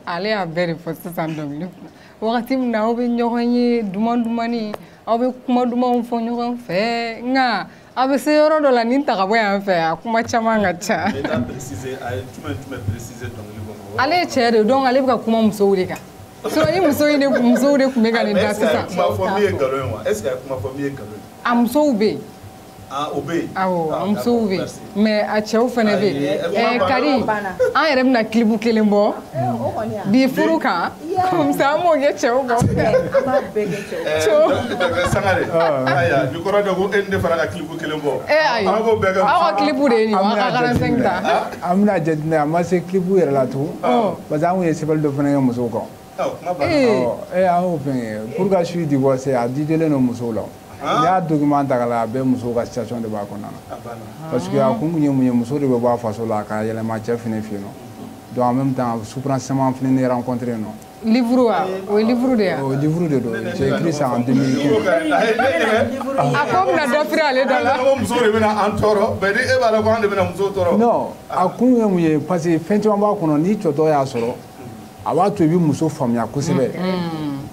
ale y'a bɛɛ de fɔ sisan dɔnkili kunna wagati min na aw bɛ ɲɔgɔn ye duman dumani aw bɛ kuma dumanw fɔ ɲɔgɔn fɛ nka a bɛ se yɔrɔ dɔ la nin ta ka bɔ yan fɛ a kuma caman ka ca ale ye cɛ de donc ale bɛ ka kuma musow de kan sinon ni musow de tun bɛ ka nin da sisan a musow bɛ yen Ah, o bɛ yen ah, a musow bɛ yen mais a cɛw fana bɛ yen kari an yɛrɛ bɛna kilibu kelen bɔ bi furu kan comme ça an b'o kɛ cɛw kan sangare bi kɔrɔ dɔ ko e ni ne fana ka kilibu kelen bɔ ayi aw ka kilibu de ye nin wa ka 45 ta an bɛna jateminɛ a ma se kilibu yɛrɛ la tun parce que an kun ye sɛbɛnni dɔ fana kɛ musow kan ee an y'o fɛn kɛ pourquoi suis-je divorcée a dédiélen don musow la n'i y'a document ta k'a lajɛ a bɛɛ musow ka situation de b'a kɔnɔna na parce que a kun kun ye mun ye muso de bɛ bɔ a faso la ka yɛlɛma cɛ fana fɛ yen nɔ donc en même temps souffrance caman fana ne rencontré yen nɔ livre wa o ye livre de ye o livre de don j'ai écrit ça en 2015 a ko bɛna dɔ firi ale da la muso de bɛna an tɔɔrɔ mais ni e b'a dɔn ko an de bɛna muso tɔɔrɔ non a kun ye mun ye parce que fɛn caman b'a kɔnɔ ni cɛ dɔ y'a sɔrɔ a b'a to i bɛ muso faamuya kosɛbɛ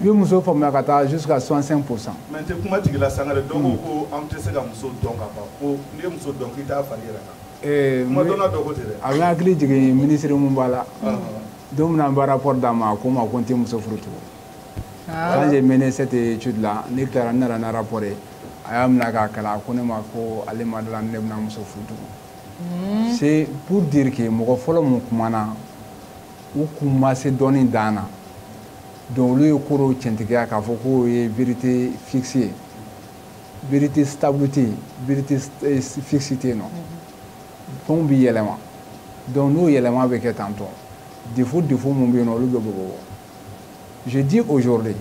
i bɛ muso faamuya ka taa jusqu'à 65 pour cent. mais n tɛ kuma tigɛ i la sangare dɔw ko ko an tɛ se ka muso dɔn ka ban ko n'i ye muso dɔn k'i t'a furu yɛrɛ kan. kuma dɔnna dɔ ko ten dɛ. a bɛ hakili jigin minisiri mun b'a la don min na an bɛ rapport d'a ma a ko n ma ko n tɛ muso furu tugun. quand j'ai mené cette étude là ne tilara n nana ni rapport ye a y'a minɛ k'a kalan a ko ne ma ko ale ma d'a la ne bɛna muso furu tugun. c'est pour dire que mɔgɔ fɔlɔ mun kumana. u kun ma se dɔnni dan na donc olu ye ko dɔw cɛntigiya k'a fɔ k'o ye vérité fixe ye vérité stable tɛ yen vérité eh, fixe tɛ yen nɔ fɛnw bɛ yɛlɛma donc n'o yɛlɛma bɛ kɛ tantôt défaut défaut mun bɛ yen nɔ olu bɛ bɔbɔ je dis aujourd'hui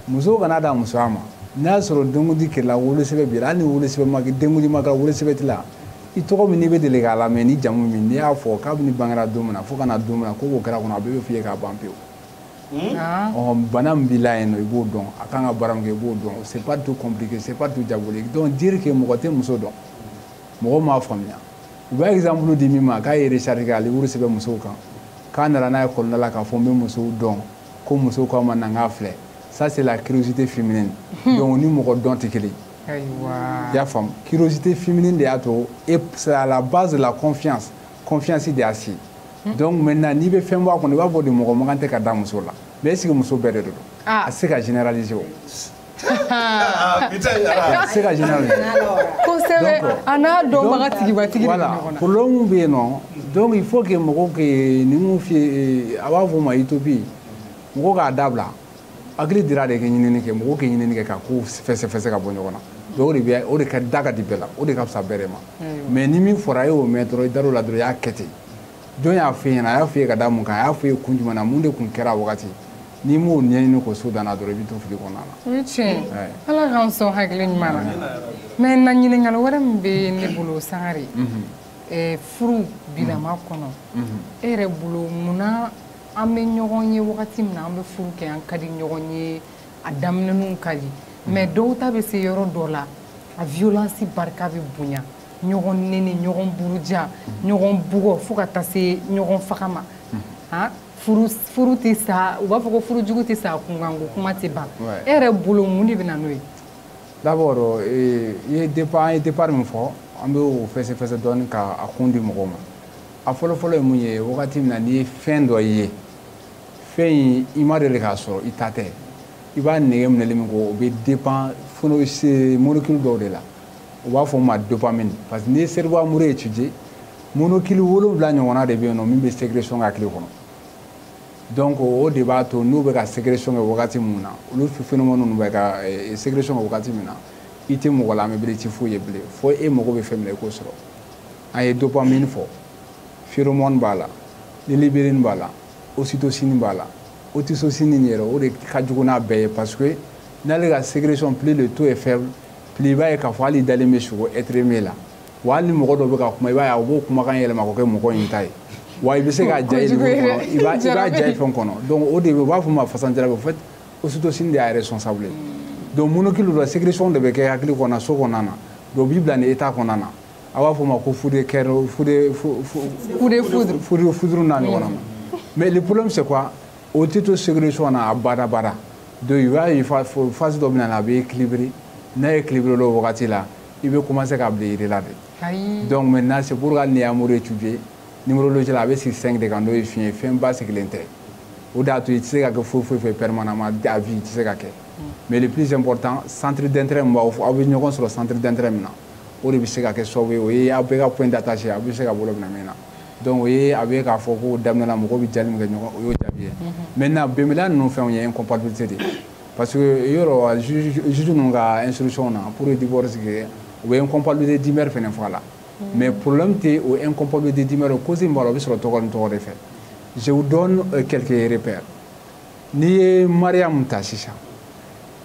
muso kana da muso ma n'a y'a sɔrɔ denkundi kɛla wolosɛbɛn b'i la hali ni wolosɛbɛn ma kɛ denkundi ma kɛla wolosɛbɛn t'i la i tɔgɔ min n'i bɛ deli k'a lamɛn ni jamu min n'i y'a fɔ kabini i bangera don min na fo ka na don min na ko o ko kɛra kɔnɔ a bɛɛ bɛ f'i ye k'a ban pewu hmm? ah. ɔ bana min b'i la yen nɔ i b'o dɔn a kan ka baara min kɛ i b'o dɔn c'est pas tout compliqué c'est pas tout diabolique donc dire que mɔgɔ tɛ muso dɔn mɔgɔ m'a faamuya u bɛ exemple di min ma k'a ye recherche kɛ ka livre sɛbɛn musow kan k'a nana n'a ye kɔlɔnda la k'a fɔ n bɛ musow dɔn ko musow k'a ma na n k'a filɛ ça c'est la curiosité féminine hmm. donc ni mɔgɔ dɔn tɛ kelen ye i y'a faamu curiosité féminine de y'a to et c'est à la base de la confiance confiance de y'a si hmm. donc maintenant n'i bɛ fɛn bɔ a kɔnɔ i b'a fɔ de mɔgɔ man kan tɛ ka da muso la mais est ce que muso bɛɛ de don ah. a tɛ se ka généraliser o se ka généraliser kosɛbɛ a n'a dɔnbaga tigibatigi de bɛ ɲɔgɔn na problème bɛ yen nɔ donc il faut que mɔgɔw kɛ ni mun f'i ye a b'a fɔ o ma utopie mɔgɔw k'a dabila hakili dira de ka ɲinini kɛ mɔgɔw ka ɲinini kɛ ka kow fɛsɛfɛsɛ ka bɔ ɲɔgɔn na donc o de bɛ o de ka da ka di bɛɛ la o de ka fisa bɛɛ de ma mais ni min fɔra e y'o mɛn dɔrɔn i dar'o la dɔrɔn i y'a kɛ ten jɔn y'a f'i ɲɛna a y'a f'i ye ka da mun kan a y'a f'i ye kun jumɛn na mun de kun kɛra a wagati n'i m'o ɲɛɲini k'o so danna dɔrɔn i bɛ to fili kɔnɔna na. o ye tiɲɛ ye ala k'an sɔn hakili ɲuman na mais na ɲininkali wɛrɛ min bɛ ne bolo sangare mhm. furu bilama mhm. kɔnɔ mhm. e yɛrɛ bolo munna an bɛ ɲɔgɔn ye wagati min na an bɛ furu kɛ an ka di ɲɔgɔn ye a daminɛninw ka di mais dɔw ta bɛ se yɔrɔ dɔ la a violence barika bɛ bonya ɲɔgɔn neni ɲɔgɔn buruja ɲɔgɔn bugɔ fo ka taa se ɲɔgɔn faga ma furu tɛ sa u b'a fɔ ko furu jugu tɛ sa kunkan ko kuma tɛ ban e yɛrɛ bolo mun de bɛ na n'o ye d'abord eh, i ye départ an ye départ min fɔ an bɛ o fɛsɛfɛsɛ dɔɔni ka a kun di mɔgɔw ma a fɔlɔfɔlɔ ye mun ye wagati min na n'i ye fɛn dɔ ye fɛn in i ma deli k'a sɔrɔ i ta tɛ i b'a nege minɛli min kɛ o bɛ dépend molécule dɔw de la u b'a fɔ o ma dopamine parce que n'i ye cerveau amoureux étudier molécule wolonwula ɲɔgɔnna de bɛ yen nɔ min bɛ sécrétion kɛ hakili kɔnɔ donc o de b'a to n'u bɛ ka sécrétion kɛ wagati min na olu phénomène ninnu bɛ ka eh, sécrétion kɛ wagati min na i tɛ mɔgɔ lamɛn bilen i tɛ foyi ye bilen fo e mago bɛ fɛn min na i k'o sɔrɔ an ye dopamine fɔ phéromone b'a la lulibérine b'a la ocytocine b'a la ocytocine in yɛrɛ o de ka jugu n'a bɛɛ ye parce que n'ale ka sécrétion plus le taux est faible plus i b'a ye k'a fɔ hakili dalen bɛ sogo être aimé la wa hali ni mɔgɔ dɔ bɛ ka kuma i b'a ye u b'o kumakan yɛlɛma k'o kɛ mɔgɔ in ta ye wa i bɛ se k'a ja ye dugu kɔnɔ i b'a ja ye fɛn kɔnɔ donc o de bɛ u b'a fɔ ma fasan jarabi en fait ocytocine de y'a responsable ye donc molécule dɔ sécrétion de bɛ kɛ hakili kɔnɔna so kɔnɔna na donc o b'i bila nin état kɔnɔna na a b'a fɔ o ma ko foudre coup de foudre foudre foudre foudre n'a ɲɔgɔnna ma mais le problème c'est quoi o tɛ to sécrétion na abada abada donc i b'a ye phase dɔ bɛ na a bɛ équilibrer n'a équilibré o wagati la i bɛ commencer ka bila i yɛrɛ la de ayi donc maintenant c'est pour hali n'i ye amour étudier numérologie la a bɛ sigi 5 de kan n'o ye fiɲɛ ye fɛn basigilen tɛ o de y'a to i tɛ se ka kɛ foyi foyi fɛ permanemment à vie i tɛ se ka kɛ mais le plus important centre d'intérêt min b'aw aw bɛ ɲɔgɔn sɔrɔ centre d'intérêt min na o de bɛ se ka kɛ sababu ye o ye aw bɛɛ ka point d'attache ye aw bɛ se ka bolo minɛ min na donc o ye a bɛ k'a fɔ ko daminɛ la mɔgɔw bɛ jali min kɛ ɲɔgɔn o y'o jaabi ye maintenant bɛnbaliya ninnu fɛnw ye incompatibilité de ye parce que yɔrɔ juge ninnu ka instruction na pour divorce kɛ u bɛ incompatibilité d'humeur fana fɔ a la mais problème tɛ o incompatibilité d'humeur o cause min b'a la o bɛ sɔrɔ tɔgɔ ni tɔgɔ de fɛ je vous donne euh, quelques repères n'i ye mariyamu ta sisan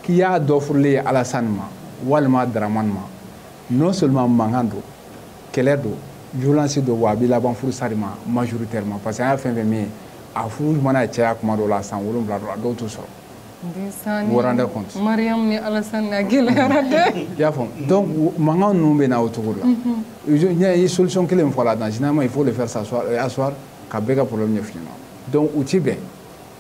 k'i y'a dɔ furulen ye alasani ma walima daramani ma non seulement mankan don kɛlɛ don violence don wa a bɛ laban furusa de ma majoritairement parce que an y'a fɛn fɛn min ye a furu mana caya kuma dɔ la san wolonwula dɔ la dɔw t'o sɔrɔ vous rendez compte mariyamu ni alasani n'a gɛlɛyara dɛ i y'a faamu donc mankan ninnu bɛ na o cogo la n y'a ye solution kelen min fɔ là-dedans généralement il faut le faire s'asseoir euh, asseoir ka bɛɛ ka problème ɲɛf'i ɲɛna donc u ti bɛn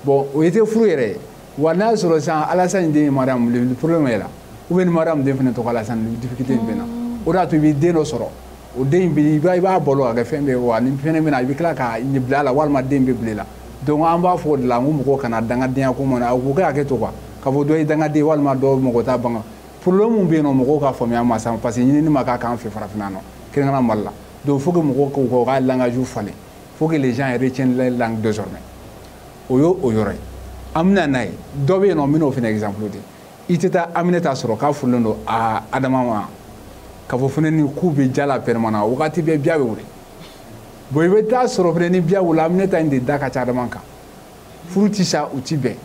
bon o ye tɛ furu yɛrɛ ye wa n'a sɔrɔ sisan alasani den ye mariyamu le problème est là ou bien ni mariyamu den fana tɔgɔ alasani difficulté in bɛ na o de y'a to i bɛ den dɔ sɔrɔ o den in bɛ i b'a balo ka kɛ fɛn bɛɛ ye wa ni fɛn bɛ na i bɛ tila ka bila a la walima den bɛ bila i la donc an b'a fɔ o de la ko mɔgɔ kana dangadenya ko mana u kɛ hakɛ to quoi ka fɔ dɔ ye dangaden walima dɔ mɔgɔ t'a banga problème min bɛ yen nɔ mɔgɔw ka faamuya ma san parce que ɲinini ma k'a k'an fɛ farafinna nɔ kɛrɛnkɛrɛnna mali la donc faut que mɔgɔw k'u ka u ka langage falen faut que les gens retiennent leur langue désormais o y'o o yɔrɔ ye an bɛ na n'a ye dɔ bɛ yen nɔ n bɛn'o fana exemple di i tɛ taa aminɛta sɔrɔ k'a furulen don a adama ma k'a fɔ fana nin k'u bɛ diya la permanent wagati bɛɛ biya bɛ wuli bon i bɛ taa sɔrɔ fana ni biya wulila aminata in de da ka ca adama kan furu ti sa u ti bɛn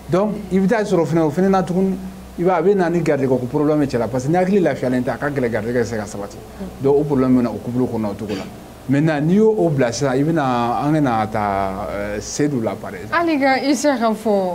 donc i bɛ taa sɔrɔ fana o fana na tuguni i b'a a bɛ na ni garijɛgɛ ko problème ye cɛla parce que ni hakili lafiyalen tɛ a ka gɛlɛn garijɛgɛ bɛ se ka sabati donc o problème bɛ na o couple kɔnɔ o cogo la maintenant n'i y'o o bila sisan i bɛna an bɛna ta sedu la par exemple hali ka isa ka fɔ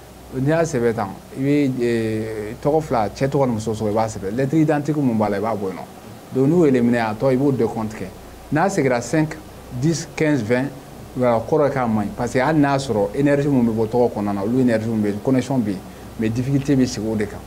n'i y'a sɛbɛn tan i bɛ eh, tɔgɔ fila cɛ tɔgɔ ni muso tɔgɔ i b'a sɛbɛn lettre identique mun b'a la i b'a bɔ yen nɔ donc n'u éliminer a tɔ i b'o décompte kɛ n'a segira 5 10 15 20 voilà a kɔrɔ ye k'a man ɲi parce que hali n'a sɔrɔ énergie mun bɛ bɔ tɔgɔ kɔnɔna na olu énergie mun bɛ connexion bɛ yen mais difficulté bɛ sigi o de kan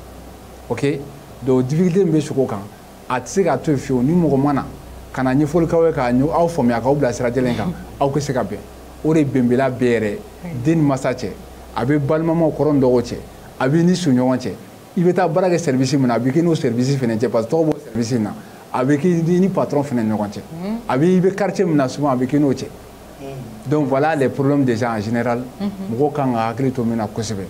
ok donc difficulté min bɛ sigi o kan a tɛ se k'a to yen fiyewu ni mɔgɔ ma na ka na ɲɛfɔli k'aw ye k'a aw faamuya k'aw bila sira jɛlen kan aw ka se ka bɛn o de ye bɛnbaliya bɛ yɛrɛ den ni masa cɛ a bɛ balimamaw kɔrɔ ni dɔgɔw cɛ a b'i ni sigiɲɔgɔn cɛ i bɛ taa baara kɛ service min na a bɛ k'i n'o service fana cɛ parce que tɔgɔ b'o service in na a bɛ k'i ni patron fana ni ɲɔgɔn cɛ a bɛ i bɛ quartier min na souvent a bɛ k'i n'o cɛ donc voilà les problèmes déjà en général mɔgɔw kan ka hakili to min na kosɛbɛ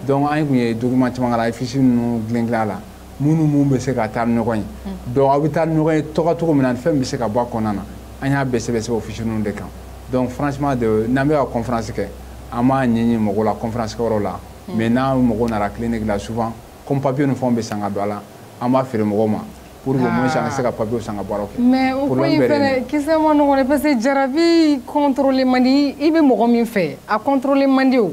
donc an tun ye document caman k'a la affiche ninnu dilan dilan a la minnu minnu bɛ se ka taa ni ɲɔgɔn ye donc aw bɛ taa ni ɲɔgɔn ye tɔgɔ cogo min na fɛn bɛ se ka bɔ a kɔnɔna na an y'a bɛɛ sɛbɛn sɛbɛn o fiche ninnu de kan donc franchement de n'an bɛ ka conférence kɛ an b'a ni mɔgɔw la conférence kɛyɔrɔ la mais n'an mɔgɔ nana clinique la souvent comme papier ni fɛnw bɛ san ka don a la an b'a feere mɔgɔw ma pour que au moins an ka se ka papier sɔngɔ bɔ a la mais o ko in fɛnɛ kisɛ man nɔgɔn dɛ parce que jarabi contrôler man di i bɛ mɔgɔ min fɛ a contrôler man di o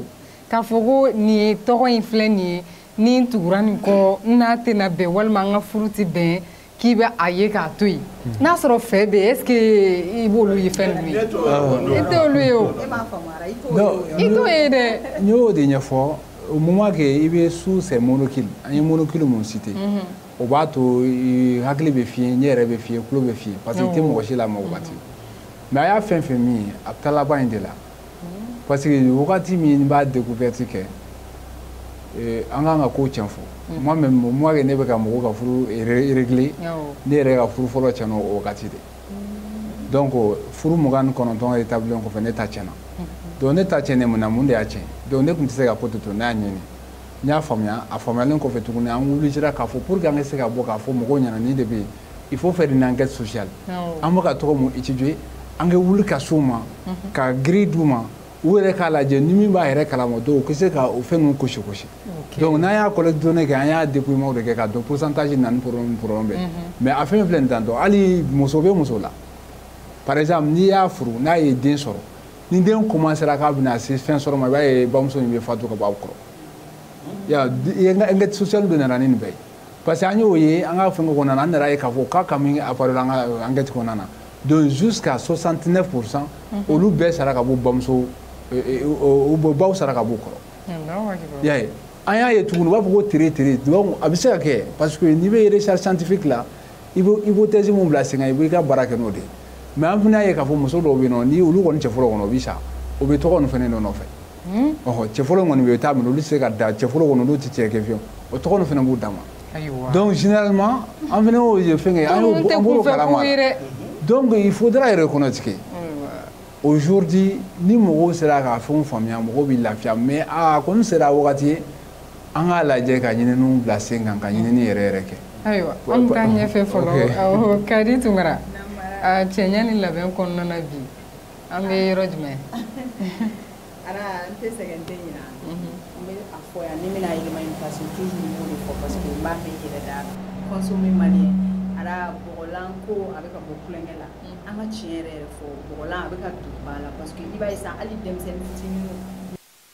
k'a fɔ ko nin ye tɔgɔ in filɛ nin ye ni n tugura nin kɔ n n'a tɛna bɛn walima an ka furu tɛ bɛn k'i bɛ a ye k'a to yen n'a sɔrɔ fɛn bɛ yen est ce que i b'olu ye fɛn ninnu ye i t'olu ye o i t'o ye dɛ n y'o de ɲɛfɔ au moment que i bɛ sous ces molécules an ye molécule min cité mhm. o b'a to hakili bɛ fiyen ɲɛ yɛrɛ bɛ fiyen tulo bɛ fiyen parce que i tɛ mɔgɔ si lamɛn o waati mais a y'a fɛn fɛn min ye a bɛ taa laban in de la parce que wagati min b'a découverte kɛ eh, an kan ka ko tiɲɛ fɔ mm. moi même moi que ne bɛ ka mɔgɔw ka furu régler ne yɛrɛ ka furu fɔlɔ tiɲɛna o wagati de mm. donc furu mugan ni kɔnɔntɔn établilen kɔfɛ ne ta tiɲɛna mm-hmm. donc ne ta tiɲɛnen mun na mun de y'a tiɲɛ donc ne tun tɛ se ka ko to to ne y'a ɲɛɲini n y'a faamuya a faamuyalen kɔfɛ tuguni an obligera k'a fɔ pour que an ka se ka bɔ k'a fɔ mɔgɔw ɲɛna nin de bɛ yen il faut faire une enquête sociale an bɛ ka tɔgɔ min étudier an ka wuli ka s'u ma ka grille d'u ma u yɛrɛ k'a lajɛ ni min b'a yɛrɛ kalama dɔw u ka se ka o fɛn ninnu cocher cocher donc n'an y'a collecte données kɛ an y'a dépouillement de kɛ k'a don pourcentage na ni problème problème bɛ mais a fɛn filɛ nin tan dɔn hali muso bɛ muso la par exemple n'i y'a furu n'a ye den sɔrɔ ni den commencera k'a bɛna se fɛn sɔrɔ ma i b'a ye bamuso in bɛ fatu ka bɔ a kɔrɔ ya enquête sociale de nana ni nin bɛɛ ye parce que an y'o ye an ka fɛngɛ kɔnɔna na an nan'a ye k'a fɔ k'a cas min apparaît la an ka euh, enquête kɔnɔna na donc jusqu'à 69 pour cent mhm. olu bɛɛ sara ka bɔ bamuso euh, euh, u baw sara ka b'u kɔrɔ y'a ye an y'a ye tuguni u b'a fɔ ko tere tere donc a bɛ se ka kɛ parce que n'i bɛ recherche scientifique la i bɛ hypothèse min bila sen kan i b'i ka baara kɛ n'o de ye mais an fana y'a ye k'a fɔ muso dɔw bɛ yen nɔ ni olu kɔni cɛ fɔlɔ kɔni o bɛ sa o bɛ tɔgɔ nin fana de nɔfɛ Hmm? ɔhɔ cɛfɔlɔ kɔni bɛ taa minɛ olu tɛ se ka da cɛfɔlɔ kɔni olu tɛ se ka kɛ fiyewu o tɔgɔ ninnu fana b'u dama donc généralement an fana y'o ye fɛn kɛ an y'o an b'o kalama donc il faudra reconnaître que aujourd'hui ni mɔgɔw sera ka fɛnw faamuya mɔgɔw bɛ lafiya mais a kɔni sera wagati ye an k'a lajɛ ka ɲininiw bila sen kan ka ɲinini yɛrɛ yɛrɛ kɛ ayiwa an ka taa ɲɛfɛ fɔlɔ kadi tunkara cɛɲɛ ni labɛn kɔnɔna na bi an bɛ yɔrɔ jumɛn ara n tɛ sɛgɛn n tɛ ɲina mhm. n bɛ a fɔ yanni n bɛna yɛlɛma in parce que toujours n b'o de fɔ parce que n b'a mɛn yɛrɛ da consommer malien ara bɔgɔlan ko a bɛ ka bɔ couleur bɛɛ la mhm. an ka tiɲɛ yɛrɛ yɛrɛ fɔ bɔgɔlan a bɛ ka don ba la parce que i b'a ye sisan hali denmisɛnnin fitininw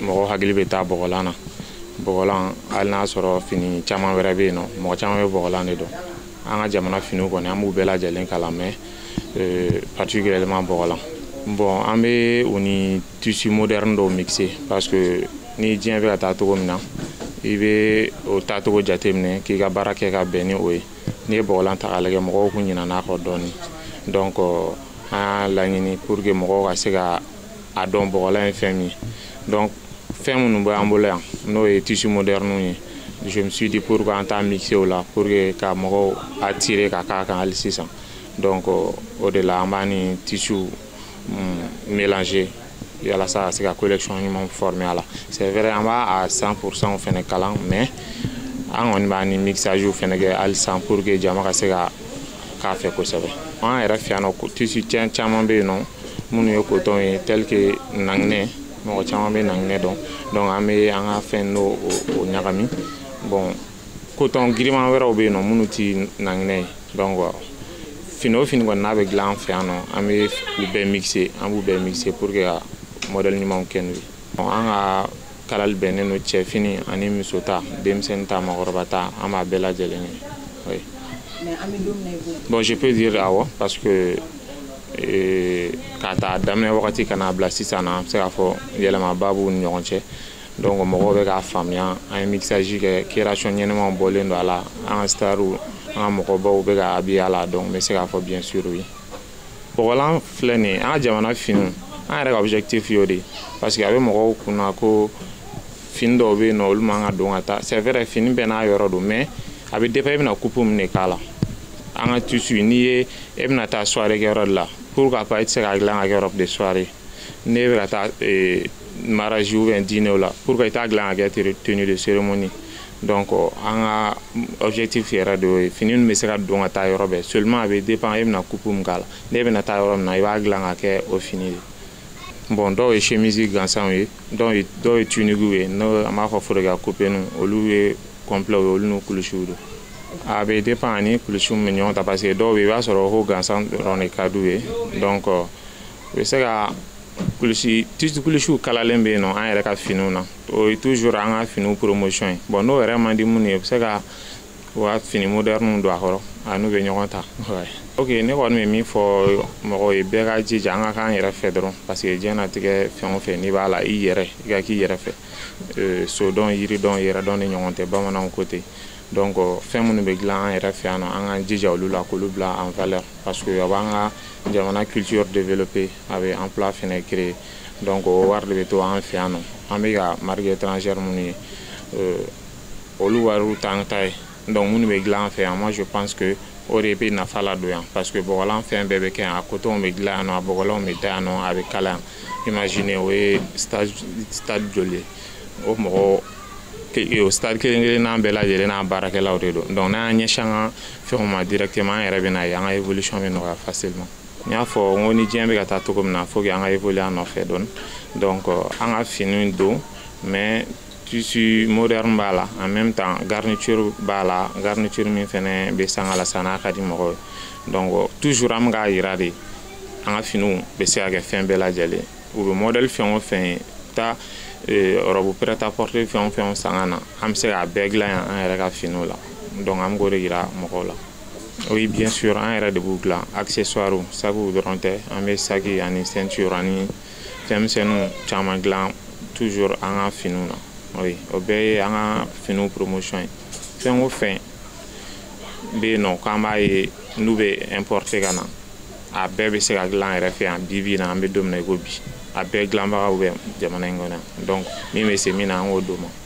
mɔgɔ hakili bɛ taa bɔgɔlan na bɔgɔlan hali n'a sɔrɔ fini caman wɛrɛ bɛ yen nɔ mɔgɔ caman bɛ bɔgɔlan de dɔn an ka jamana finiw kɔni an b'u bɛɛ lajɛlen kalan mais euh, particulièrement bɔgɔlan bon an bɛ u ni tissu moderne dɔw mixer parce que ni diɲɛ bɛ ka taa cogo min na i bɛ o taacogo jateminɛ k'i ka baara kɛ ka bɛn ni o ye n'i ye bɔgɔlan ta k'a lajɛ mɔgɔw kun ɲinan'a kɔ dɔɔni donc an y'a laɲini pour que mɔgɔw ka se ka a dɔn bɔgɔlan ye fɛn min ye donc fɛn minnu bɛ an bolo yan n'o ye tissu modernew ye je me suis dit pourquoi an t'a mixer o la pour que ka mɔgɔw attirer ka k'a kan hali sisan donc o de la an b'a ni tissuw mm, mélanger yalasa ka se ka collection ɲuman former a la c'est vrai an b'a à 100 pour cent fɛnɛ kalan mais an kɔni b'a ni mixage fɛnɛ kɛ hali sisan pour que jama ka se ka k'a fɛ kosɛbɛ an yɛrɛ fɛ yan nɔ tissu caman bɛ yen nɔ minnu ye coton ye tel que nanginɛ mɔgɔ caman bɛ nanginɛ dɔn donc an bɛ an ka fɛn n'o o ɲagami bon coton giriman wɛrɛw bɛ yen nɔ minnu tɛ nanginɛ ye donc fini o fini kɔni n'a bɛ dilan an fɛ yan nɔ an bɛ u bɛɛ mixer an b'u bɛɛ mixer pour que ka modèle ɲumanw kɛ n'u ye an ka kalali bɛnnen don cɛfini ani muso ta denmisɛnnin ta maakɔrɔba ta an b'a bɛɛ lajɛlen ye oui. bon je peux dire awɔ parce que euh, k'a ta daminɛ wagati ka n'a bila sisan na an bɛ se k'a fɔ yɛlɛmaba b'u ni ɲɔgɔn cɛ donc mɔgɔw bɛ k'a faamuya an ye mixage kɛ création ɲɛnɛmaw bɔlen don a la an ka starw an ka mɔgɔbaw bɛ ka habiller a la donc n bɛ se k'a fɔ bien sûr oui. bɔgɔlan filɛ nin ye an ka jamana finiw an yɛrɛ ka objectif y'o de ye parce que a bɛ mɔgɔw kunna ko fini dɔw bɛ yen nɔ olu man ka don ka taa c'est vrai fini bɛɛ n'a yɔrɔ don mais a bɛ dépend i bɛna coupe min de k'a la an ka tissu n'i ye e bɛna taa soirée kɛyɔrɔ de la pourquoi pas e tɛ se k'a dilan ka kɛ robe de soirée n'e bɛ ka taa mariage ou bien dîner la pourquoi i t'a dilan ka kɛ tenue de cérémonie donc an ka objectif yɛrɛ de y'o ye fini min bɛ se ka don ka taa yɔrɔ bɛɛ seulement a bɛ dépend e bɛna coupe min k'a la n'e bɛna taa yɔrɔ min na i b'a dilan ka kɛ o fini de bon dɔw ye chemise gansanw ye dɔw ye dɔw ye tuniquew ye n'o an b'a fɔ forokiya coupéninw olu ye complet ye olu n'u kulusiw don a bɛ dépend a ni kulusiw bɛ ɲɔgɔn ta parce que dɔw bɛ yen i b'a sɔrɔ ko haut gansan dɔrɔn de ka d'u ye donc u bɛ se ka kulusi tissu kulusiw kalalen bɛ yen nɔ an yɛrɛ ka finiw na o ye toujours an ka finiw promotion ye bon n'o yɛrɛ man di minnu ye u bɛ se ka u ka fini modernew don a kɔrɔ a n'u bɛ ɲɔgɔn ta ok ne kɔni bɛ min fɔ mɔgɔw ye bɛɛ ka jija an ka k'an yɛrɛ fɛ dɔrɔn parce que diɲɛnatigɛ fɛn o fɛn n'i b'a la i yɛrɛ i ka k'i yɛrɛ fɛ euh, so dɔn yiri dɔn yɛrɛ dɔn de ɲɔgɔn tɛ bamananw ko ten donc fɛn minnu bɛ dilan an yɛrɛ fɛ yan nɔ an k'an jija olu la k'olu bila en valeur parce que a b'an ka jamana culture développer a bɛ emploi fana créer donc o wari de bɛ to an fɛ yan nɔ an bɛ ka marque étrangère minnu ye euh, olu wariw t'an ta ye donc minnu bɛ dilan an fɛ yan moi je pense que o de bɛ nafa ladon yan parce que bɔgɔlan fɛn bɛɛ bɛ kɛ yan a coton bɛ dilan yan nɔ a bɔgɔlanw bɛ da yan nɔ a bɛ kala yan imagine o ye stade stade joli ye o mɔgɔ o stade kelen kelennan bɛɛ lajɛlen n'a baarakɛlaw de don donc n'an y'an ɲɛsin an ka fɛnw ma directement an yɛrɛ bɛ n'a ye an ka évolution bɛ nɔgɔya facilement n y'a fɔ n ko ni diɲɛ bɛ ka taa cogo min na fo an ka évoluer a nɔfɛ dɔɔni donc an ka finiw don mais tissu moderne b'a la en même temps garniture b'a la garniture min fɛnɛ bɛ sanga la sa n'a ka di mɔgɔw ye donc toujours an bɛ k'a yira de an ka finiw bɛ se ka kɛ fɛn bɛɛ lajɛlen u bɛ modèle fɛn o fɛn ye taa robe prêt à porter fɛn o fɛn sanga na an bɛ se k'a bɛɛ dilan yan an yɛrɛ ka finiw la donc an bɛ k'o de yira mɔgɔw la Oui, bien sûr, an yɛrɛ de b'u dilan accessoires sakiw dɔrɔn tɛ an bɛ saki ani ceinture ani fɛnmisɛnninw caman dilan toujours an ka finiw na oui, o bɛɛ ye an ka finiw promotion ye fɛn o fɛn bɛ yen nɔ k'an b'a ye n'u bɛ importer ka na a bɛɛ bɛ se ka dilan an yɛrɛ fɛ yan bi bi in na an bɛ don min na i ko bi a bɛɛ dilanbagaw bɛ jamana in kɔnɔ yan donc min bɛ se min na an k'o d'u ma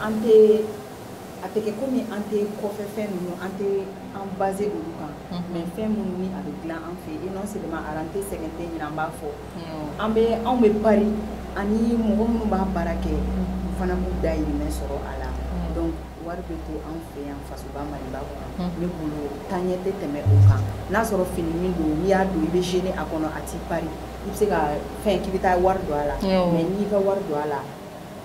an tɛ a tɛ kɛ komi an tɛ kɔfɛ fɛn ninnu an tɛ an baser olu kan mais fɛn minnu ni a bɛ dilan an fɛ yen non seulement an tɛ sɛgɛn tiɲɛ na an b'a fɔ an bɛ anw bɛ pari ani mɔgɔ minnu b'a baara kɛ u fana b'u dahirimɛ sɔrɔ a la donc wari bɛ to anw fɛ yan fasoba maliba kɔnɔ ne bolo taaɲɛ tɛ tɛmɛ o kan n'a sɔrɔ fini min don n'i y'a don i bɛ gêner a kɔnɔ a t'i pari i bɛ se ka fɛn k'i bɛ taa wari don a la mais n'i ka wari don a la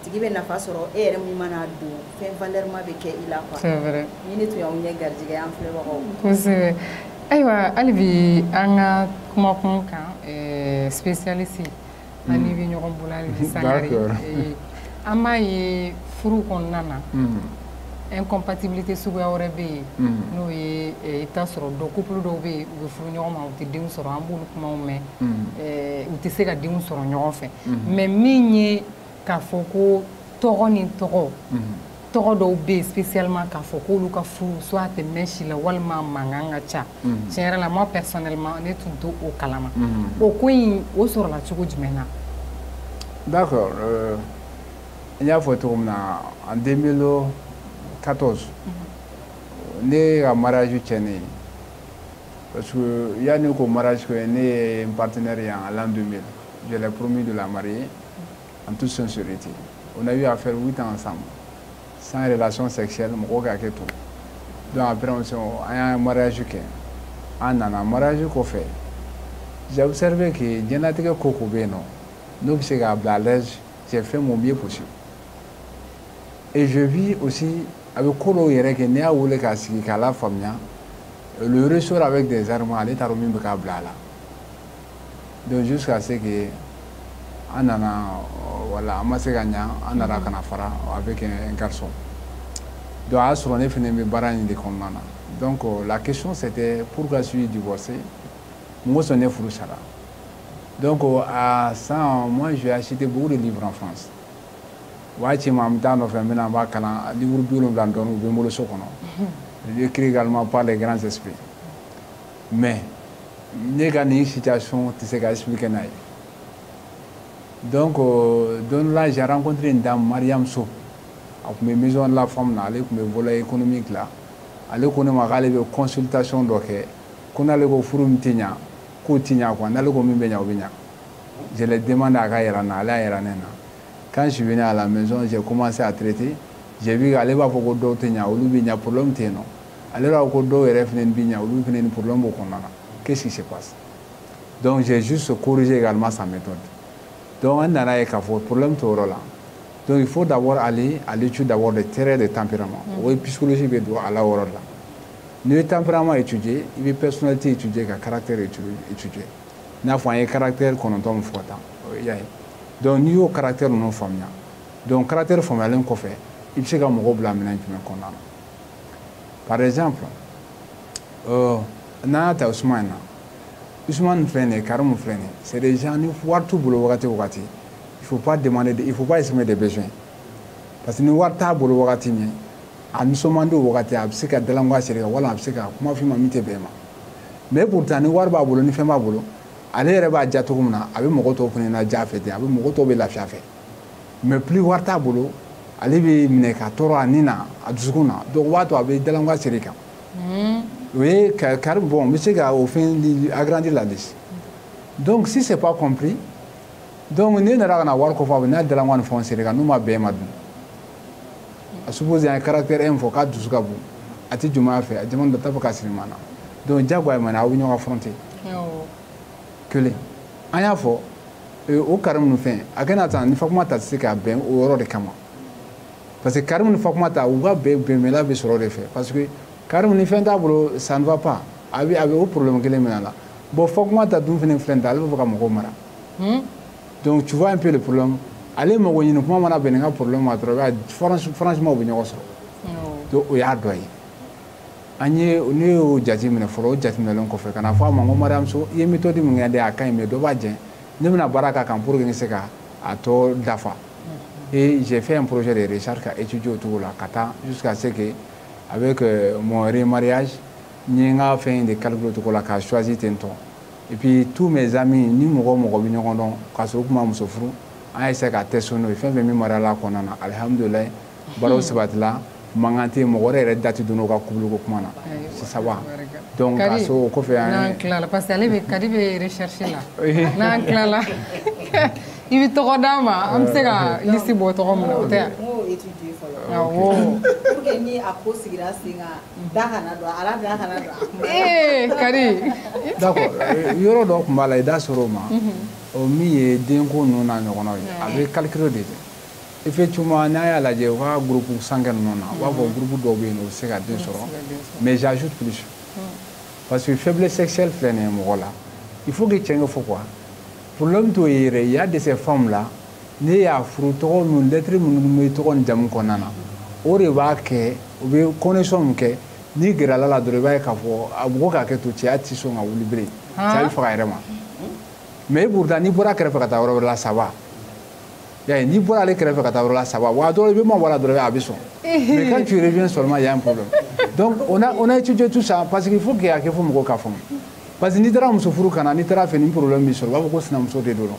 tigi bɛ nafa sɔrɔ e yɛrɛ min mana don fɛn valeur ma bɛ kɛ i la quoi c'est vrai ni ne tun y'aw ɲɛ garijɛgɛ an filɛbagaw kosɛbɛ ayiwa hali bi an ka kumakun kan eh, spécialiste hmm. an n'i bɛ ɲɔgɔn bolo hali bi Sangare eh, an b'a ye furu kɔnɔna na hmm. incompatibilité suguya wɛrɛ bɛ yen hmm. n'o ye eh, i bɛ t'a sɔrɔ dɔ couple dɔw bɛ yen u bɛ furu ɲɔgɔn ma u tɛ denw sɔrɔ an b'olu kumaw mɛn u tɛ se ka denw sɔrɔ ɲɔgɔn fɛ mais min ye k'a fɔ ko tɔgɔ ni tɔgɔ tɔgɔ dɔw bɛ yen spécialement k'a fɔ k'olu ka furu soit tɛ mɛn si la walima mankan ka ca tiɲɛ yɛrɛ la moi personnellement ne tun t'o kalama o ko in o sɔrɔla cogo jumɛn na d'accord euh, n y'a fɔ cogo min na en 2014 ne ka mariage tiɲɛnen parce que yanni k'o mariage kɛ ne ye n partenaire ye en l'an 2000 je l'ai promis de la marier en toute sincérité on a eu à faire huit ans ensemble sans relation sexuelle mɔgɔw ka hakɛ to donc après on s'est an y'a mariage kɛ an nana mariage kɔfɛ j'ai observé que diɲɛlatigɛ ko o ko bɛ yen nɔ n'o bɛ se k'a bila à l'aise j'ai fait mon mieux possible et j'ai vu aussi a bɛ ko dɔw yɛrɛ kɛ n'i y'a wele k'a sigi k'a lafaamuya elle ressort avec des larmes ale t'a dɔn min bɛ k'a bila a la donc jusqu'à ce que an nana voilà an ma se ka ɲa an nana ka na fara avec un garçon donc a y'a sɔrɔ ne fana bɛ baara in de kɔnɔna na donc la question c'était pourquoi suis-je divorcé mun kosɔn ne furu sara donc à ça moi j'ai acheté beaucoup de livres en France waati caman n bɛ taa nɔfɛ n bɛ na n b'a kalan livre bi wolonwula dɔɔni u bɛ n bolo so kɔnɔ c'est écrit également par les grands esprits mais ne ka nin situation tɛ se ka expliquer n'a ye donc euh, don dɔ la j'ai rencontré une dame Mariam Sow a tun bɛ maison de la femme na ale tun bɛ volet économique la ale ko ne ma k'ale bɛ consultation dɔ kɛ ko n'ale ko furu min tɛ ɲa k'o tɛ ɲa quoi n'ale ko min bɛ ɲa o bɛ ɲa je l'ai demandé a k'a yira n na ale y'a yira ne na quand je suis venu à la maison j'ai commencé à traiter j'ai vu k'ale b'a fɔ ko dɔw tɛ ɲa olu bɛ ɲa problème tɛ yen nɔ ale b'a fɔ ko dɔw yɛrɛ fana bi ɲa olu fana ni problème b'o kɔnɔna na qu'est-ce qui se passe donc j'ai juste corrigé également sa méthode donc an nana ye k'a fɔ problème t'o yɔrɔ la donc il faut d'abord aller à l'étude d'abord des traits de tempérament mm. o ye psychologie bɛ don a la o yɔrɔ la n'i ye tempérament étudier i bɛ personnalité étudier ka caractère étudier i n'a fɔ an ye caractère kɔnɔntɔn min fɔ ka taa o y'a ye donc n'i y'o caractère ninnu faamuya donc caractère faamuyalen kɔfɛ i bɛ se ka mɔgɔw bila minɛn jumɛn kɔnɔna na par exemple euh, n'an y'a ta Usumani na Usumani filɛ nin ye Karimu filɛ nin ye c'est des gens ni wari t'u bolo wagati o wagati il faut pas demander de, il faut pas exprimer des besoins parce que ni wari t'a bolo wagati min a nisɔn man di o wagati a bɛ se ka dalangoya siri i kan walima a bɛ se ka kuma f'i ma min tɛ bɛn i ma mais pourtant ni wari b'a bolo ni fɛn b'a bolo ale yɛrɛ b'a diya cogo min na a bɛ mɔgɔ tɔw fana na diya a fɛ ten a bɛ mɔgɔ tɔw bɛ lafiya a fɛ mais plus wari t'a bolo ale bɛ minɛ ka tɔɔrɔ a ni na a dusukun na donc o b'a to a bɛ dalangoya siri i kan o ye kari bon n bɛ se ka o fɛn agrandir la de donc si c'est pas compris donc ne nana ka na wari ko fɔ a bɛ n'a dalangoya ni fɛnw siri n kan n'u ma bɛn n ma dun à supposer an ye caractère un fɔ k'a dusu ka bon a tɛ jumɛn a fɛ a jama dɔ t'a fɛ k'a siri maa na donc jagoya ma na aw bɛ ɲɔgɔn affronter kelen an y'a fɔ o karimu ni fɛn a kana ta ni fatumata tɛ se ka bɛn o yɔrɔ de kama parce que karimu ni fatumata u ka bɛn bɛnbɛla bɛ sɔrɔ de fɛ parce que karimu ni fɛn t'a bolo ça ne va pas a bɛ a bɛ o problème kelen minɛ a la bon fatumata dun fana filɛ nin ta ale b'a fɛ ka mɔgɔw mara hmm? donc tu vois un peu le problème ale mago ɲini kuma mana bɛn nin ka problème ma dɔrɔn i b'a ye franchement u bɛ ɲɔgɔn sɔrɔ donc o y'a dɔ ye an ye ne y'o jate minɛ fɔlɔ o jateminɛlen kɔfɛ ka na fɔ a ma n ko mariyamuso i ye méthode min kɛ dɛ a ka ɲi mais dɔ b'a jɛ ne bɛna baara k'a kan pour que n se ka a tɔ dafa et j'ai fait un projet de recherche k'a étudier o cogo la ka taa jusqu'à ce que avec euh, mon remariage n ye n ka fɛn in de calculer o cogo la k'a choisi ten tɔ et puis tous mes amis ni mɔgɔ o mɔgɔ bɛ ɲɔgɔn dɔn k'a sɔrɔ u tun ma muso furu an y'a essayer ka test n'o ye fɛn fɛn min marier la a kɔnɔna na alihamudulilayi baaraw sabatila mankan tɛ yen mɔgɔ wɛrɛ yɛrɛ da tɛ don u ka couple ko kuma na c'est ça va donc ka so o kɔfɛ an ye n'an tilala parce que ale bɛ kadi bɛ recherche la n'an tilala i bɛ tɔgɔ d'a ma an bɛ se ka liste bɔ tɔgɔ min na o tɛ yan. awɔ. pour que ni a ko sigira sen kan da kana don a la da kana don a kuma na. ee kadi. d'accord yɔrɔ dɔ tun b'a la i da sera o ma o min ye denko ninnu n'a ɲɔgɔnnaw ye a bɛ calcul de kɛ. effectivement n'a y'a lajɛ u ka groupe sanguin ninnu na u b'a fɔ groupe dɔw bɛ yen u bɛ se ka den sɔrɔ mais j'ajoute plus parce que faiblesse sexuelle filɛ nin ye mɔgɔ la il faut que cɛn ka fɔ quoi problème t'o ye yɛrɛ il y a de ces femmes là n'i y'a furu tɔgɔ ninnu lettre minnu bɛ tɔgɔ ni jamu kɔnɔna na o de b'a kɛ u bɛ connexion min kɛ n'i gɛrɛla a la dɔrɔn i b'a ye k'a fɔ a mɔgɔ k'a kɛ to cɛya tɛ sɔn ka wuli bilen cɛya bɛ faga a yɛrɛ ma mais pourtant n'i bɔra a kɛrɛfɛ ka taa yɔrɔ wɛrɛ la ça va Ya n'i bɔra ale kɛrɛfɛ ka taa yɔrɔ la ça va wa dɔrɔn i bɛ mabɔ a la dɔrɔn a bɛ sɔn mais quand tu reviens seulement il y a un problème donc on a on a étudié tout ça parce qu'il faut que a kɛ fo mɔgɔw k'a faamu parce que n'i taara muso furu ka na n'i taara fɛ ni problème b'i sɔrɔ u b'a fɔ ko sinamuso de don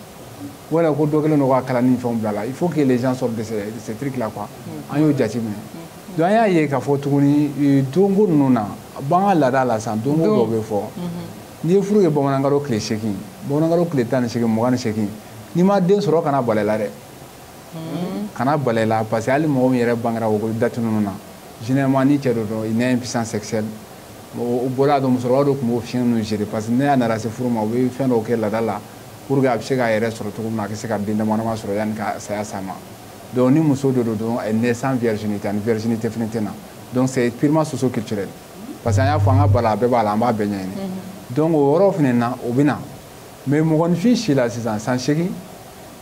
wala ko dɔ kɛlen don ka kalan ni fɛnw bila a la il faut que les gens sortent de ces de ces trucs là quoi an y'o jate minɛ donc an y'a ye k'a fɔ tuguni euh, donko ninnu na b'an ka laada la sisan donko dɔw bɛ fɔ n'i ye furu kɛ bamanankalo tile seegin bamanankalo tile tan ni seegin mugan ni seegin n'i ma den sɔrɔ kana bala i la dɛ hmm. kana bala i la parce que hali mɔgɔ min yɛrɛ bangera o date ninnu na généralement ni cɛ dɔ don il naît impuissant sexuel o bɔra a dɔn musokɔrɔba dɔ tun b'o fiɲɛ ninnu gérer parce que ni a nana se furu ma u bɛ fɛn dɔw kɛ laada la pour que a bɛ se k'a yɛrɛ sɔrɔ cogo min na a ka se ka den dama dama sɔrɔ yanni ka saya s'a ma donc ni muso dɔ don dɔrɔn elle naît sans virginité a ni virginité fana tɛ na donc c'est purement socio culturel parce que an y'a fɔ an ka baara a bɛɛ b'a la an b'a bɛɛ ɲɛɲini donc o yɔrɔ fana na o bɛ na mais mɔgɔninfin si la sisan san seegin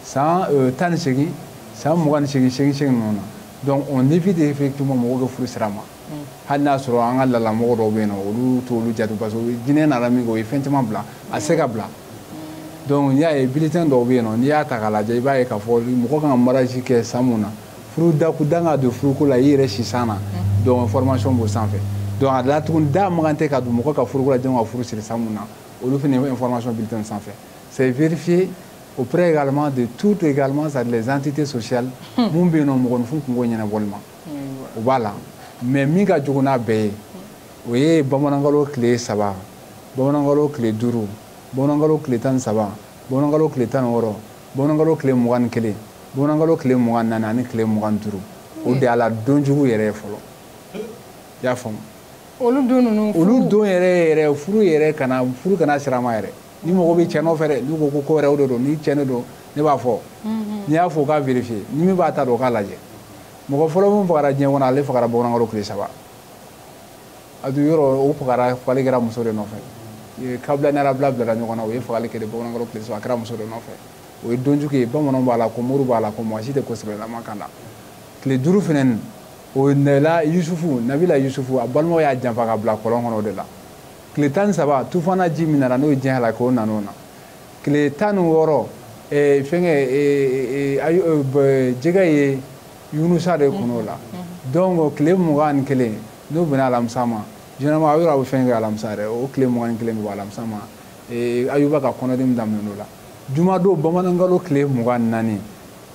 san euh, tan ni seegin san mugan ni seegin seegin seegin ninnu na donc on évite effectivement mɔgɔw bɛ furu siri a ma mm. hali n'a sɔrɔ an ka lalamɔgɔ dɔw bɛ yen nɔ olu t'olu jate parce que diinɛ nana min kɛ o ye fɛn caman bila a se ka bila mm. donc n'i y'a ye bulletin dɔw bɛ yen nɔ n'i y'a ta k'a lajɛ i b'a ye k'a fɔ mɔgɔ kan ka mariage kɛ san mun na furu dakun dan ka don furuko la i yɛrɛ si san na mm. donc information b'o sanfɛ donc a la tuguni da man kan tɛ ka don mɔgɔ ka furuko la jɔn ka furu siri san mun na olu fana ye information bulletin sanfɛ c'est vérifié auprès également de toutes également les entités sociales hmm. mun bɛ yen nɔ mɔgɔninfin kunko ɲɛnabɔli ma o b'a la mais min ka jugu n'a bɛɛ ye o ye bamanankalo tile saba bamanankalo tile duuru bamanankalo tile tan ni saba bamanankalo tile tan ni wɔɔrɔ bamanankalo tile mugan ni kelen bamanankalo tile mugan naani ani tile mugan duuru o de y'a la donjugu yɛrɛ ye fɔlɔ i y'a faamu olu don ninnu olu don yɛrɛ yɛrɛ furu yɛrɛ kana furu kana siri a ma yɛrɛ ni mɔgɔ bɛ cɛn nɔfɛ dɛ n'u ko ko ko wɛrɛw de don ni cɛn de don ne b'a fɔ mhm. n'i y'a fɔ k'a vérifier ni min b'a ta dɔn o k'a lajɛ mɔgɔ fɔlɔ min fagara diɲɛ kɔnɔ ale fagara bamanankalo tile saba a dun yɔrɔ o fagara fagali kɛra muso de nɔfɛ kabila ni habila bilara ɲɔgɔn na o ye fagali kɛ de bamanankalo tile saba a kɛra muso de nɔfɛ o ye donjugu ye bamananw b'a la ko moriw b'a la ko mɔgɔ si tɛ ko sɛbɛlama k'a la tile duuru fɛnɛ o de la yusufu nabila yusufu a balimaw y'a janfa k'a bila kɔlɔn kɔnɔ o de la tile tan ni saba tufana ji min nana n'o ye diɲɛ halaki o nan'o na tile tan ni wɔɔrɔ eh, fɛngɛ eh, eh, jɛgɛ ye yunusa de kun'o la mm-hmm. donc tile mugan ni kelen n'o bɛnna alamisa ma généralement a yɔrɔ a bɛ fɛn kɛ alamisa yɛrɛ o tile mugan ni kelen bɛ bɔ alamisa ma ayuba ka kɔnɔdimi daminɛ o la jumadon bamanankalo tile mugan ni naani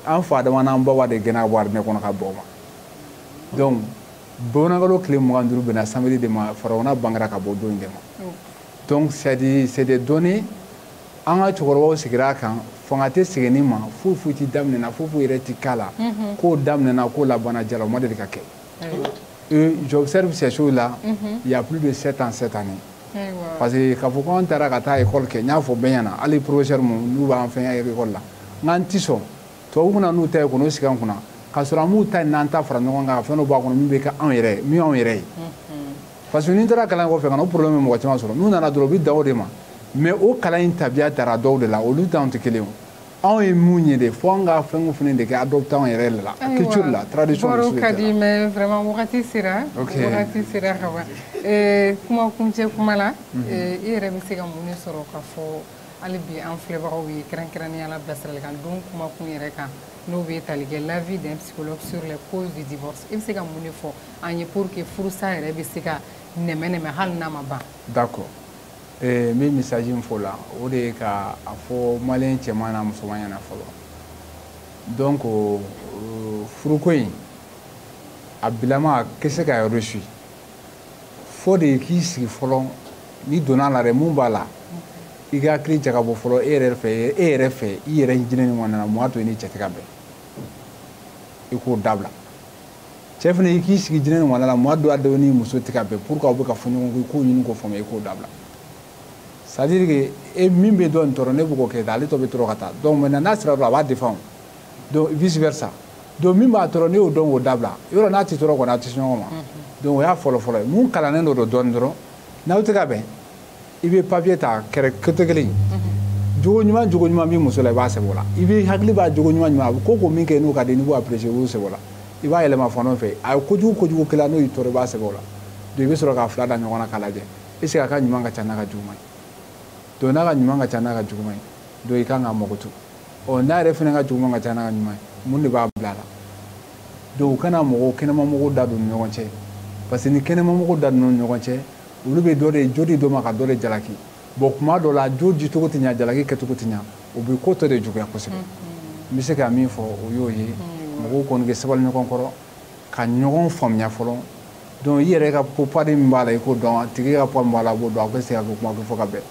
an fa adama n'an ba hawa de gɛnna arijinɛ kɔnɔ ka bɔ o ma donc bamanankalo tile mugan duuru bɛnna samedi de ma farawuna bangera ka bɔ don in de ma donc c'est des données an ka cɛkɔrɔbaw sigira a kan fanga tɛ sigi nin ma foyi foyi tɛ daminɛna foyi foyi yɛrɛ tɛ k'a la k'o daminɛna k'o laban diyara o ma deli ka kɛ euh, j'observe ces choses là il y a plus de sept ans cette année parce que k'a fɔ ko an taara ka taa école kɛ n y'a fɔ bɛɛ ɲɛna hali professeur minnu n'u b'an fɛngɛ école la n k'an tɛ sɔn tubabu ka na n'u ta ye ka n'o sigi an kunna k'a sɔrɔ an m'u ta in n'an ta fara ɲɔgɔn kan ka fɛn dɔ b'a kɔnɔ min bɛ kɛ anw yɛrɛ min y'anw yɛrɛ ye parce que n'i taara kalan kɔfɛ ka na o problème bɛ mɔgɔ caman sɔrɔ n'u nana dɔrɔn u bɛ dan o de ma mais o kalan in tabiya tara dɔw de la olu t'anw tɛ kelen ye anw ye mun ye de fo an ka fɛn o fɛn de kɛ adapter anw yɛrɛ la culture la tradition baro ka di mais vraiment wagati sera wagati sera ka ban kuma kuncɛ kuma la i yɛrɛ bɛ se ka mun de sɔrɔ ka fɔ hali bi an filɛbagaw ye kɛrɛnkɛrɛnnenya la bilasiralikan don kuma kun yɛrɛ kan n'o bɛ tali kɛ l'avis d'un psychologue sur les causes du divorce i bɛ se ka mun de fɔ an ye pour que furusa yɛrɛ bɛ se ka nɛmɛ-nɛmɛ hali n'a ma ban d'accord ee n bɛ message min fɔ la o de ye ka a fɔ maliyɛn cɛman n'a musoman ɲɛna fɔlɔ donc furuko in a bilama a tɛ se ka réussir fo de k'i sigi fɔlɔ n'i donna a la dɛ mun b'a la i ka hakili jagabɔ fɔlɔ e yɛrɛ fɛ e yɛrɛ fɛ i yɛrɛ jiɲɛ nin kɔnɔna na mun y'a to i ni cɛ tɛ ka bɛn i k'o dabila cɛ fana i k'i sigi jiɲɛ nin kɔnɔna la mun y'a to a dɔw ni muso tɛ ka bɛn pour que aw bɛ ka fɔ ɲɔgɔn kɔ i k'o ɲini k'o faamuya i k'o dabila c'est à dire que e min bɛ dɔ nin tɔɔrɔ ne bɛ k'o kɛ ale tɔ bɛ tɔɔrɔ ka taa donc maintenant n'a sera dɔrɔn a b'a défend donc vice versa donc min b'a tɔɔrɔ n'i y'o dɔn k'o dabila yɔrɔ n'a tɛ tɔɔrɔ kɔni a tɛ se ɲɔgɔn ma donc o y'a fɔlɔ fɔlɔ ye min kalannen don dɔɔni dɔrɔn n'aw tɛ ka bɛn i bɛ papiye ta kɛrɛ côté kelen jogo ɲuman jogo ɲuman b'i muso la i b'a sɛbɛn o la i b'i hakili b'a jogo ɲuman ɲuman a bɛ ko ko min kɛ n'o ka di n'i b'o apprécier i b'o sɛbɛn o la i b'a yɛlɛma fan dɔ fɛ a ye kojugu kojugu k'i la n'o y'i tɔɔrɔ i b'a sɛbɛn o la donc i bɛ sɔrɔ k'a fila da ɲɔgɔn na k'a lajɛ est ce que a ka ɲuman ka ca n'a ka juguman ye donc n'a ka ɲuman ka ca n'a ka juguman ye donc i kan k'a makoto ɔ n'a yɛrɛ fana ka juguman ka ca n'a ka ɲuman ye mun de b'a bila a la donc u kana mɔgɔw kɛnɛmamɔgɔw da don ni ɲɔgɔn cɛ parce que ni kɛnɛmamɔgɔw da donna ni ɲɔgɔn cɛ olu bɛ dɔ de jo di dɔ ma ka dɔ de jalaki bon kuma dɔ la jo dicogo tɛ ɲa jalaki kɛcogo tɛ ɲa o bɛ ko tɔ de juguya kosɛbɛ n bɛ se ka min fɔ o y'o ye mɔgɔw kɔni ka sabali ɲɔgɔn kɔrɔ ka ɲɔgɔn faamuya fɔlɔ donc i yɛrɛ ka part min b'a la i k'o dɔn a tigi ka poids min b'a la a b'o dɔn a bɛ se ka kɛ kuma kɛ fo ka bɛn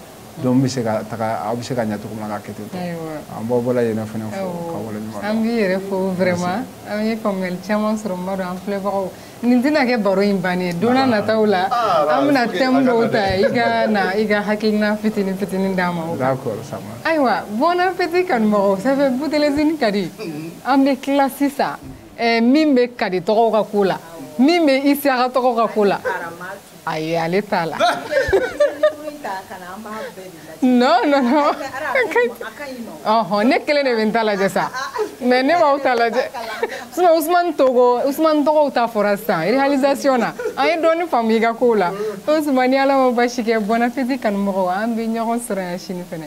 donc bɛ se ka taga aw bɛ se ka ɲɛ cogo min na k'a kɛ ten tɔ an b'aw bɛɛ lajɛlen fana fo ka wale ɲuman dɔn an b'i yɛrɛ fo vraiment an ye faamuyali caman sɔrɔ n b'a dɔn an filɛbagaw nin tɛna kɛ baro in bannen ye don n'a nataw la ah, an bɛna thème dɔw ta i ka na i ka hakilina fitini fitini d'an ma o kan ayiwa bon appétit kanumɔgɔw ça fait boutelezini ka di an bɛ tila sisan eh, min bɛ kadi togo ka ko la min bɛ isiaka togo ka ko la ayi ale t'a la non non non ɔhɔn ne kelen de bɛ n ta lajɛ sa mais ne b'aw ta lajɛ sinon usumani togo usumani togo ta fɔra sisan réalisation na an ye dɔɔni faamu i ka kow la usumani n'ala ma basi kɛ bon appétit kanumɔgɔw an bɛ ɲɔgɔn sɔrɔ yan sini fɛnɛ